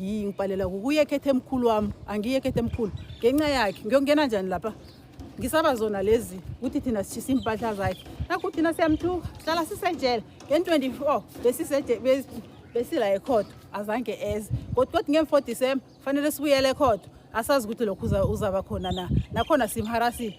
ngibhalela kukuye ekhethe emkhulu wami angiye ekhethe emkhulu ngenxa yakhe ngiyongena njani lapha ngisaba zona lezi ukuthi thina sishisa iimpahla zakhe nakho thina siyamthuka hlala sisejele ngen-24 besila ekhodo azange eze kodwa kodwa ngemfo december kufanele sibuyele ekhodo asazi ukuthi lokhu uzaba khona na nakhona simharasile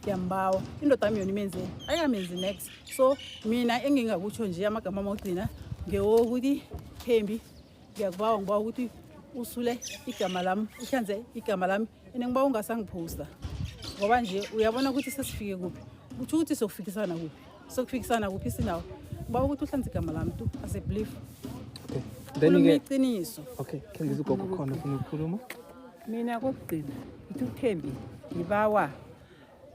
ndiyambawa indoda yami yona imenzeni ayingamenzi next so mina engingakutsho nje amagama ama ogcina ngewokuthi thembi ngiyakubawa ngibawa ukuthi usule igama lami uhlanze igama lami ene ngibawa ungasangiphosta ngoba nje uyabona ukuthi sesifike kuphi kutsho ukuthi sokufikisana kuphi sokufikisana kuphi sinawo ngibawa ukuthi uhlanze igama lami tu as a belief khuluma iqiniso okay khengiza ugogo khona ufuna ukukhuluma mina kokugcina ngithi uthembi ngibawa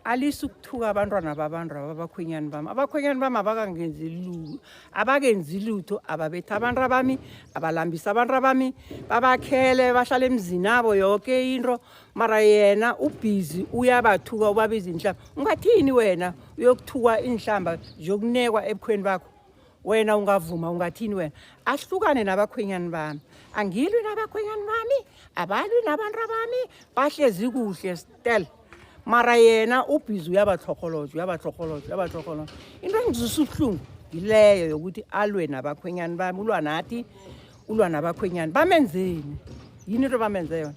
alisa ukuthuka abantwana babantu aba abakhwenyani bami abakhwenyani bami abakangenzi lutho abakenzi lutho ababethi abantu abami abalambisa abantu abami babakhele bahlala emzini abo yoke into mara yena ubhizi uyabathuka ubabiza inhlamba ungathini wena uyokuthukwa iinhlamba zokunekwa ebukhweni bakho wena ungavuma ungathini wena ahlukane nabakhwenyani bami angilwi nabakhwenyani bami abalwi nabantu abami bahlezi kuhle stel mara yena ubhizi uyabatlhorholoja uyabatlhorholoja uyabatlhorholoja into engizisa ubuhlungu yileyo yokuthi alwe nabakhwenyani bami ulwa nathi ulwa nabakhwenyani bamenzeni yini into bamenze yona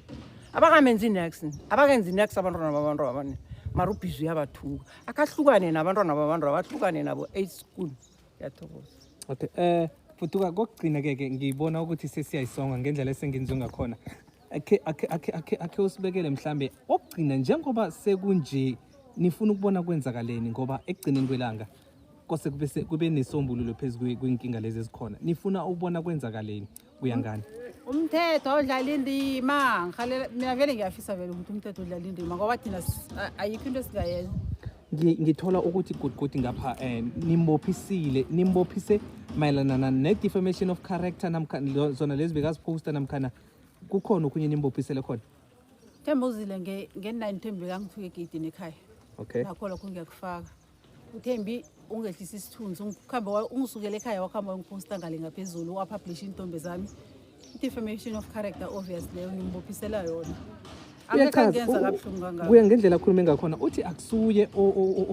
abakamenzi next abakenzi next abantwana babantwana mara ubhizi uyabathuka akahlukane nabantwana babantu abahlukane nabo eight school yathokoza okay eh fuduka kokugcina ke ke ngibona ukuthi sesiyayisonga ngendlela esenginzwe ngakhona akhe akhe akhe akhe akhe usibekele mhlambe okugcina njengoba sekunje nifuna ukubona kwenzakaleni ngoba ekugcineni kwelanga kose kube kube nesombululo phezulu kwinkinga lezi ezikhona nifuna ukubona kwenzakaleni uyangani umthetho awudlala indima ngihalela mina vele ngiyafisa vele ukuthi umthetho udlala indima ngoba thina s- a- ayikho into esingayenza Ngi- ngithola ukuthi gudgudi ngapha um nimbophisile nimbophise mayelana na- ne-defamation of character namkha lo- zona lezi bekaziphosta namkhana kukhona okhunye nimbophisele khona themba uzile nge-nine thembi bekangifike egeyidini ekhaya okay nakho lokho ngiyakufaka uthembi ungehlisa isithunzi ukuhamba ungisukele ekhaya wakuhamba wangiphosta ngale ngaphezulu wapublisha iintombe zami i-defamation of character obvious leyo ngimbophisela yona kuya ngendlela akhulume ngakhona uthi akusuye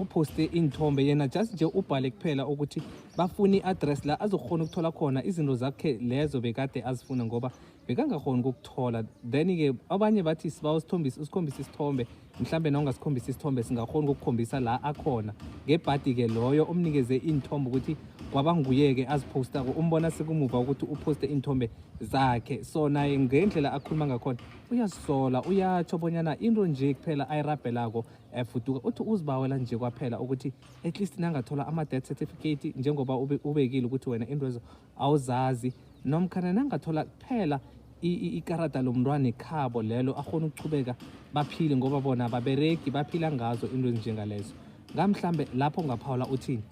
ophoste iy'nthombe yena just nje ubhale kuphela ukuthi bafuna i-address la azokhona ukuthola khona izinto zakhe lezo bekade azifuna ngoba bekangakhoni ukukuthola then-ke abanye bathi siba usikhombise isithombe mhlawumbe nawungasikhombisa isithombe singakhoni ukukukhombisa la akhona ngebhadi-ke loyo omnikeze iy'nthombe ukuthi kwaba nguye-ke aziphostako umbona sekumuva ukuthi uphoste iy'nthombe zakhe so naye ngendlela akhuluma ngakhona uyazisola uyatsho bonyana into nje kuphela ayirabhelako um eh, fuduka uthi uzibawela nje kwaphela ukuthi at least nangathola ama-death certificate njengoba ubekile ukuthi wena intwezo awuzazi nomkhana nangathola kuphela ikarada lomntwana ekhabo lelo akhona ukuchubeka baphile ngoba bona ababeregi baphila ngazo into ezinjengalezo ngamhlambe lapho ungaphawula uthini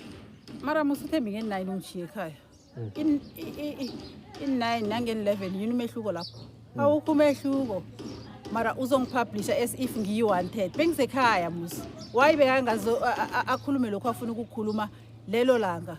mara musithembi nge-nine ungishiye ekhaya mm. in-nine nangen-eleven yini umehluko lapho mm. awukho umehluko mara uzongipublisha as if ngiyi-wanted bengisekhaya musi wayi bekangazo akhulume lokhu afuna ukukhuluma lelo langa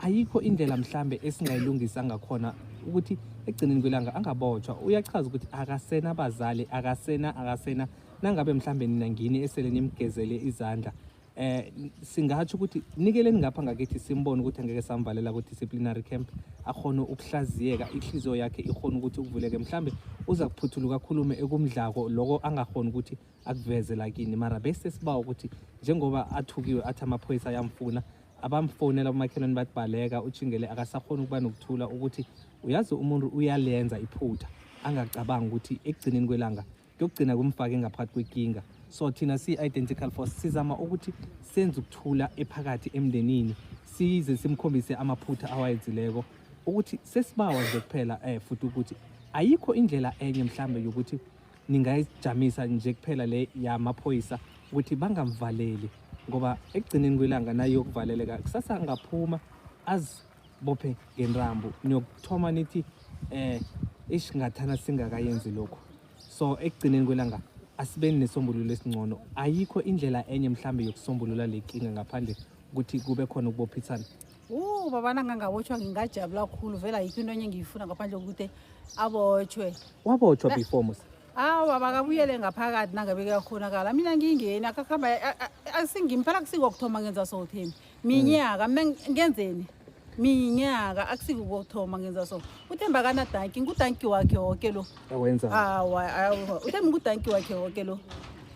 ayikho indlela mhlambe esingayilungisa ngakhona ukuthi ekugcineni kwelanga angabotshwa uyachaza ukuthi akasena abazali akasena akasena nangabe mhlambe nina ngini esele nimgezele izandla eh singatsho ukuthi nikeleni ngapha ngakithi simbone ukuthi angeke samvalela ku-disciplinary camp akhona ukuhlaziyeka ihliziyo yakhe ikhona ukuthi ukuvuleke mhlambe uza kuphuthuluka akhulume ekumdlako loko angakhona ukuthi akuveze lakini mara bese sibawa ukuthi njengoba athukiwe athi amaphoyisa ayamfuna abamfonela umakhelwane bathi baleka utshingele akasakhona ukuba nokuthula ukuthi uyazi umuntu uyalenza iphutha angacabangi ukuthi ekugcineni kwelanga kuyokugcina kumfake ngaphakathi kwekinga so thina siyi-identical force sizama ukuthi senze ukuthula ephakathi emndenini size simkhombise amaphutha awayenzileko ukuthi sesibawa nje kuphela um futhi ukuthi ayikho indlela enye mhlawumbe yokuthi ningayijamisa nje kuphela le yamaphoyisa ukuthi bangamvaleli ngoba ekugcineni kwelanga naye yokuvaleleka kusasa angaphuma azibophe ngenrambo niyokuthoma nithi eh ish ngathana singakayenzi lokho so ekugcineni kwelanga asibeni nesombululo esingcono ayikho indlela enye mhlambe yokusombulula le nkinga ngaphandle ukuthi kube khona ukubophisana Ooh baba nangangabotshwa ngingajabula kakhulu vele ayikho into enye engiyifuna ngaphandle kokuthi abotshwe. Wabotshwa Na- before Musa. Awa makabuyele ngaphakathi nangabe kuyakhonakala. Mina ngingeni akakhamba asingimpela kusikokuthoma ngenza so Thembi. Minyaka mina ngi- ngenzeni? Minyaka akusikokuthoma ngenza so. UThembi akanadanki, ngudanki wakhe woke lo. Awenza. Ah, wa- ah, wa- uthemba ukudanki wakhe woke lo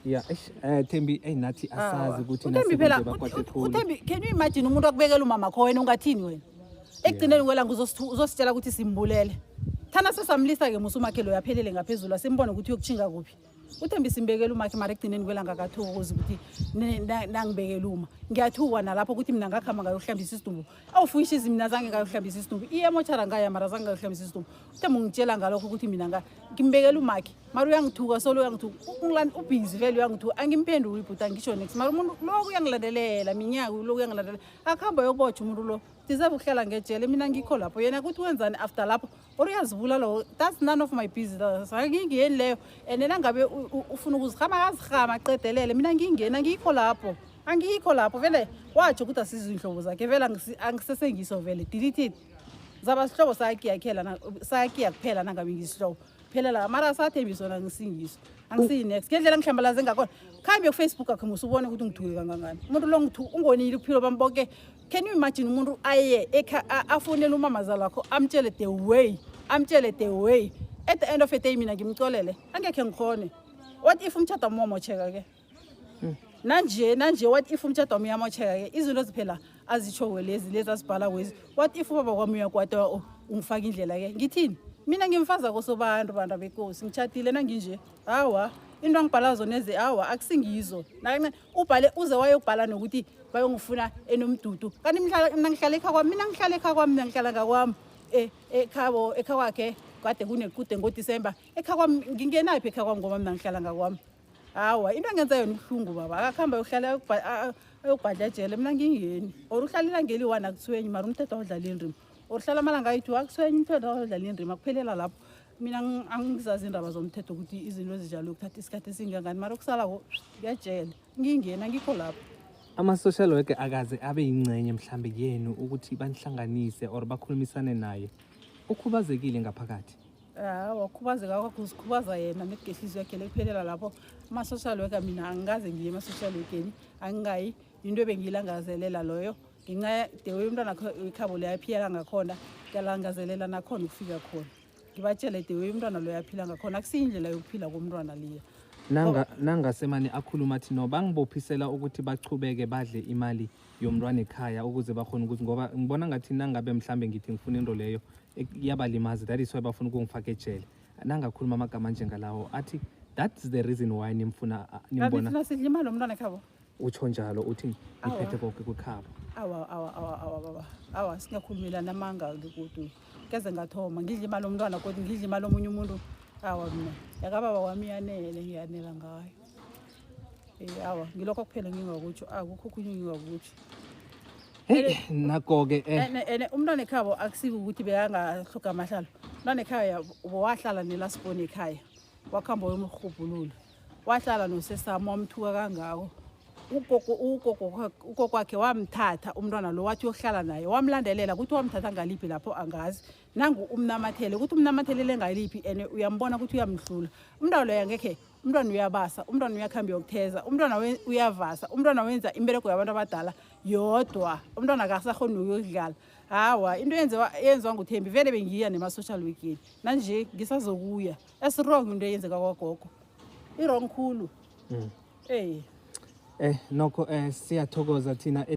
Yeah, eish, eh Thembi hey nathi Ah, wa. asazi ukuthi uthembi phela nasebenze bakwade ut- ut- khulu. uthembi can you imagine umuntu akubekela umama kho wena ungathini wena ekugcineni kwelanga uzosithu- uzositshela ukuthi simbulele thana sesamlisa ke musa umakhe loyo aphelele ngaphezulu asimbone ukuthi uyokutshinga kuphi uthembi simbekela umakhe mara ekugcineni kwelanga akathokozi ukuthi ne- na- nangibekela uma ngiyathukwa nalapho ukuthi mina ngakuhamba ngayokuhlambisa isidumbu awufuyishizi mina zange ngayohlambisa isidumbu iyemothara ngaya mara zange ngayohlambisa isidumbu uthe mungitshela ngalokho ukuthi mina ngimbekela umakhe mara uyangithuka solo uyangithuka ubhizi vele uyangithuka angimphenduli ibhuti angisho next mara umuntu loku uyangilandelela minyaka loku uyangilandelela akuhamba yokubotha umuntu lo deserve ukuhlala ngejele mina ngikho lapho yena kuthi wenzani after lapho or uyazivula lowo that's none of my business angingeni leyo and nangabe ufuna ukuzihama akazihama aqedelele mina ngingeni angikho lapho angikho lapho vele watsho ukuthi asizo iy'nhlobo zakhe vele angisesengiso vele deleted zaba sihlobo sayakiyakhela sayakiya kuphela nangabe ngisihlobo phela la mara asathembiso nangisingiso angisiyi-next ngendlela ngihlambalaze ngakhona khambe kufacebook akhe musa ubone ukuthi ngithuke kangangani umuntu lo ungonile uphilo bami bonke Can you imagine umuntu aye ekha- a- afonele umamazala wakho amtshele the way amtshele the way at the end of the day mina ngimxolele angekhe ngikhone what if umtshado wami wamosheka ke nanje nanje what if umtshado wami uyamosheka ke izinto ziphela azitsho lezi lezi azibhala kwezi what if ubaba kwami uyakwata u- ungifaka indlela ke ngithini mina ngimfaza kosobantu bantu abekosi ngitshatile nanginje hawa into angibhala zona ezi hawa akusingizo nakancane ubhale uze wayobhala nokuthi bayongifuna enomdudu kanti mina ngihlala ekha kwami mina ngihlala ekha kwami mina ngihlala ngakwami e, ekhabo ekha kwakhe kade kunekude ngodisemba ekha kwami ngingenaphi ekha kwami ngoba mina ngihlala ngakwami hawa into engenza yona ubuhlungu baba akakuhamba yokuhlala ayokubhadla ejele mina ngingeni or uhlalela ngeli one akuthwenyi mara umthetho awudlaleli ndima or uhlala amalanga ayi-two akuthwenyi umthetho awudlaleli ndima kuphelela lapho mina angizazi indaba zomthetho ukuthi izinto ezinjalo ukuthatha isikhathi esingangani mara okusalako kuyajela ngingena ngikho lapho ama-social worker akaze abe yingcenye mhlambe yenu ukuthi banihlanganise or bakhulumisane naye ukhubazekile ngaphakathi ha wakhubazeka kwakho uzikhubaza yena nekugehlizi yakhe lekuphelela lapho ama-social worker mina angikaze ngiye ema-social workeni angingayi yinto ebengiyilangazelela loyo ngenxa the way umntwana ikhabo liyaphila kangakhona ngiyalangazelela nakhona ukufika khona ngibatshele the way umntwana loyo aphila ngakhona akusiyindlela yokuphila komntwana liya nangasemane akhuluma athi no bangibophisela ukuthi bachubeke badle imali yomntwana ekhaya ukuze bakhona ukuthi ngoba ngibona ngathi nangabe mhlambe ngithi ngifuna into leyo iyabalimaza that is why bafuna ukungifaka ejele nangakhuluma amagama njengalawo athi that's the reason why nimfuna nimbona sidla imali yomntwana ekhabo utsho njalo uthi ngiphethe konke kwikhaba awa awa awa awa baba awa singakhulumelana amanga kodwa keze ngathoma ngidla imali omntwana kodwa ngidla imali omunye umuntu awa mina yakababa wami yanele ngiyanela ngayo um awa ngilokho kuphela ngingakutsho akukho okhunye ngingakutsho nako-ke eh. and umntwana ekhabo akusike ukuthi bekangahloga amahlalo umntwana ekhaya wahlala nelasiboni ekhaya wakuhamba wemrhubhulula wahlala nosesami wamthuka kangako ugogo kwakhe wamthatha umntwana lo wathi uyohlala naye wamlandelela ukuthi wamthatha ngaliphi lapho angazi nangu umnamathele ukuthi umnamathelele ngaliphi and uyambona ukuthi uyamdlula umntwana loyo angekhe umntwana uyabasa umntwana uyakuhamba yokutheza umntwana uyavasa umntwana wenza imbereko yabantu abadala yodwa umntwana akasahoni nokuyokudlala hawa into yenziwa nguthembi vele bengiya nema-social weekend nanje ngisazokuya esiwrong into eyenzeka kwagogo i-wrong khulu mm. ey eh nokho eh siyathokoza thina e-